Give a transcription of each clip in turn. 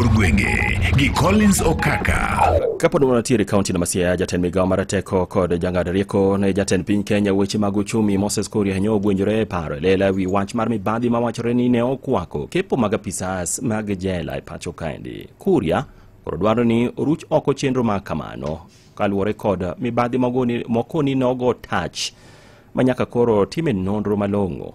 Kor gwenge gi Collins Okaka. Kapod wanatiere kaunti na Masia, jatend migawo mar teko kod jang'ad rieko ne jatend piny Kenya weche mag uchumi Moses Kuria ne ogwenjore e paro e lela wi wach mar mibadhi ma wachore ni ne okwako kepo mag apisas mag jela e pacho kaendi. Kuria koro dwaro ni oruch oko chenro ma kamano kaluwore kod mibadhi mogoni- moko ni nogo tach ma nyaka koro time nonro malong'o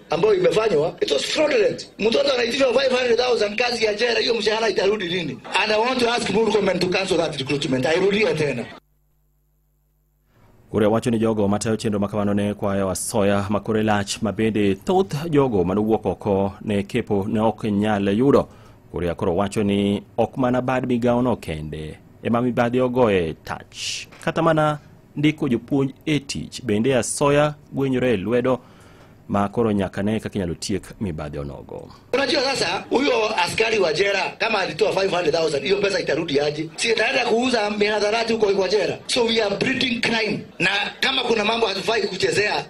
ambayo imefanywa it was fraudulent. Mtoto anaitishwa 500,000 kazi ya jera, hiyo mshahara itarudi lini? And I want to ask Murkomen to cancel that recruitment. Airudia tena. Ure wacho ni jogo matayo chenro ma kamano ne kwayo asoya ma kore lach ma bende thoth jogo mane owuok oko ne kepo ne ok nyal yudo. Kuria koro wacho ni ok mana bad migawono kende ema mibadhi ogoye tach kata mana ndiko jopuonj e tich bende asoya gwenyore e lwedo ma koro nyaka ne kaka inyalo tiek mibadhi onogo. Unajua sasa huyo askari wa jera kama alitoa 500,000 hiyo pesa itarudi aje? Si itaenda kuuza mihadharati huko kwa jera. So we are breeding crime. Na kama kuna mambo hatufai kuchezea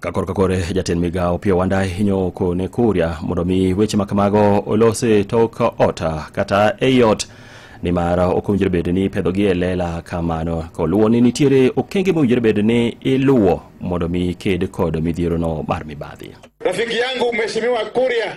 ka korka kore jatend migawo piyo wanda hinyo kone kuria mondo mi weche ma kamago olos e tok ot kata ei ot nimar ok owinjore bed ni ipedhogi e lela kamano koluwo ni nitiere okenge mowinjore bed ni iluwo mondo mi ked kod midhierono mar mibadhi Rafiki yangu Mheshimiwa Kuria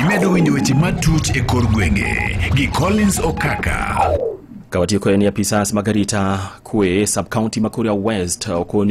Imedo winjo weche matut e kor gwenge gi Collins Okaka. Kawatiyo kod ni apisas mag arita kwe sub county ma Kuria West okoni